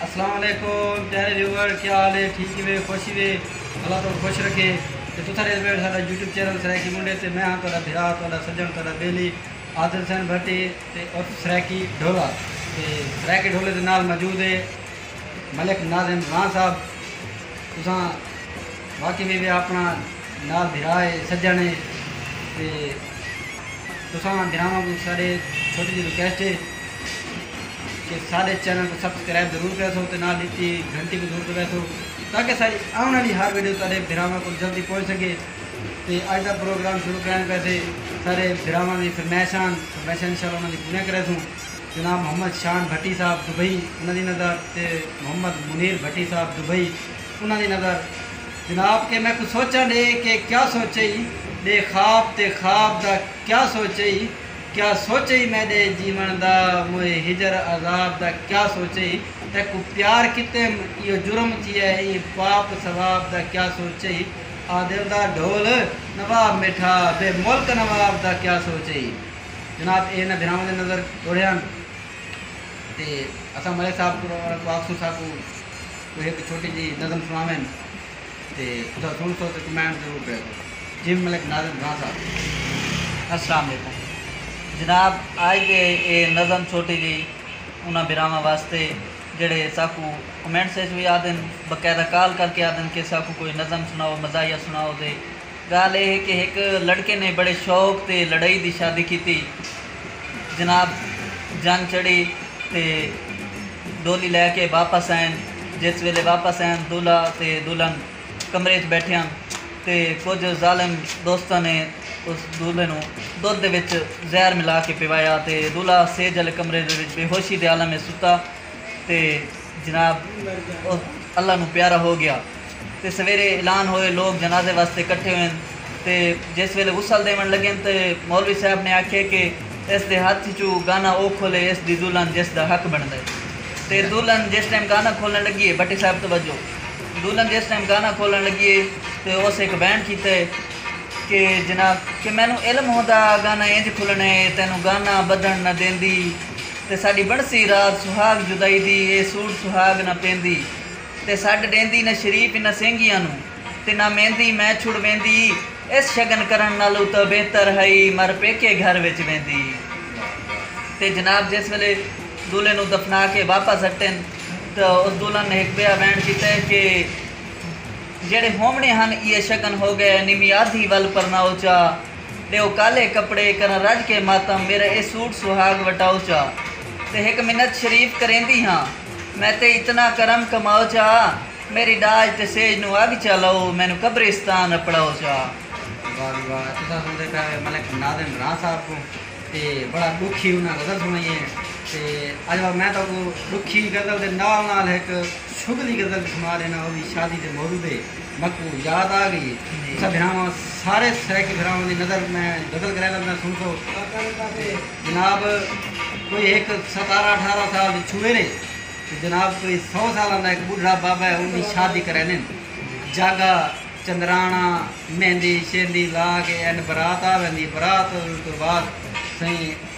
اسلام علیکم پیارے ویور کیا حال ہے ٹھیک ہی وے خوش ہی وے اللہ تو خوش رکھے تے تو تھارے ویور ساڈا یوٹیوب چینل سرائیکی منڈے تے میں ہاں تہاڈا بھرا تہاڈا سجن تہاڈا بیلی عادل حسین بھٹی تے اور سرائیکی ڈھولا تے سرائیکی ڈھولے دے نال موجود ہے ملک ناظم ران صاحب تساں واقعی بھی وے اپنا نال بھرا ہے سجن ہے تے تساں بھراواں کو ساڈے چھوٹی جی ریکویسٹ ہے تے ساڈے چینل کوں سبسکرائب ضرور کریسو تے نال ڈتی گھنٹی کوں ضرور دبائیسو تاکہ ساڈی آون آلی ہر ویڈیو تہاڈے بھراواں کول جلدی پہنچ سکے تے اج دا پروگرام شروع کرائیں پیسے ساڈے بھراواں دی فرمائشاں ہن فرمائشاں انشاء اللہ انہاں دی پوریاں کریسوں جناب محمد شان بھٹی صاحب دبئی انہاں دی نظر تے محمد منیر بھٹی صاحب دبئی انہاں دی نظر جناب کہ میکوں سوچاں ڈے کہ کیا سوچئی ڈے خواب تے خواب دا کیا سوچئی۔ کیا سوچے ہی میڈے جیون دا موئے ہجر عذاب دا کیا سوچے ہی تیکوں پیار کیتیم ایہو جرم تھیا ہے ایں پاپ ثواب دا کیا سوچے ہی آ دل دا ڈھول نواب میٹھا بے ملک نواب دا کیا سوچے ہی جناب اے انہاں بھراواں دے نظر توڑے ہن تے اساں ملک صاحب کولوں آکھسوں ساکوں کوئی ہک چھوٹی جی نظم سناوین۔ تے تساں سنسو تے کمنٹ ضرور کریسو جیم ملک ناظم خان صاحب۔ السلام علیکم جناب آج دے اے نظم چھوٹی جئی انہاں بھراواں واسطے جیڑھے ساکو کمنٹس اچ وی آدھن باقاعدہ کال کر کے آدھن کہ ساکو کوئی نظم سناؤ مزاحیہ سناؤ دے گالھ اے ہے کہ ہک لڑکے نے بڑے شوق تے لڑئی دی شادی کیتی۔ جناب جنگ چڑھی تے ڈولی لے کے واپس آئن۔ جس ویلے واپس آئن دولہا تے دلہن کمرے اچ بیٹھے ہن تے کجھ ظالم دوستاں نے اس دولہے نوں دودھ دے وچ زہر ملا کے پیوایا تے دولہا سیج آلے کمرے دے وچ بے ہوشی دے عالم اچ ستا۔ تے جناب او اللہ نوں پیارا ہو گیا تے سویرے اعلان ہوئے لوگ جنازے واسطے کٹھے ہوئن تے جس ویلے غسل دیون لگن تے مولوی صاحب نے آکھے کہ اس دے ہتھ اچوں گانا او کھولے اس دی دلہن جس دا حق بندا ہے تے دلہن جس ٹائم گانا کھولن لگی ہے بھٹی صاحب توجہ دلہن جس ٹائم گانا کھولن لگی ہے تے اس ہک وین کیتے کہ جناب کہ مینوں علم ہوندا گانا انج کھلنے تینوں گانا بدھن نہ دیندی تے ساݙی بݨسی رات سہاڳ جدائی دی اے سوٹ سہاڳ نہ پیندی تے سݙ ݙیندی نہ شریف انہاں سینگیاں نوں تے نہ میندی میں چھڑ ویندی ایس شگن کرݨ نالوں تاں بہتر ہئی مر پیکے گھر وچ ویندی تے جناب جس ویلے دولھے نوں دفنا کے واپس اٹن تاں اس دولھن نے ہک ٻیا ویݨ کیتے کہ جیڑھے ہووݨے ہن ایہ شگن ہو ڳئے نمی آدھی ول پرناؤ چا ݙیو کالے کپڑے، کراں رڄ کے ماتم، میݙا اے سوٹ سہاڳ وٹاؤ چا تے ہک منت شریف کریندی ہاں، میں تے اتنا کرم کماؤ چا، میݙی ݙاج تے سیج نوں اڳ چا لؤ، مینوں قبرستان اپڑاؤ چا۔ واہ جی واہ تساں سݨدے پئے ہو ملک ناظم راں صاحب کوں تے بڑا ݙکھی انہاں غزل سݨائی ہے تے اڄ واں میں تہاکوں ݙکھی غزل دے نال نال ہک شغلی غزل وی سݨا ݙینا او وی شادی دے موضوع تے۔ مکوں یاد آ گئی ہے۔ تساں بھراواں سارے سرائیکی بھراواں دی نظر میں غزل گرائیندا پیا سن سو تے جناب کوئی ہک ستارہ اٹھارہ سال دی چھوہر ہے تے جناب کوئی سو سالاں دا ہک بڈھڑا بابا ہے اوندی شادی کرائیندن جاگا چندرانا مہندی شہندی لا کے اینڈ برات آ ویندی ہے برات توں بعد سئیں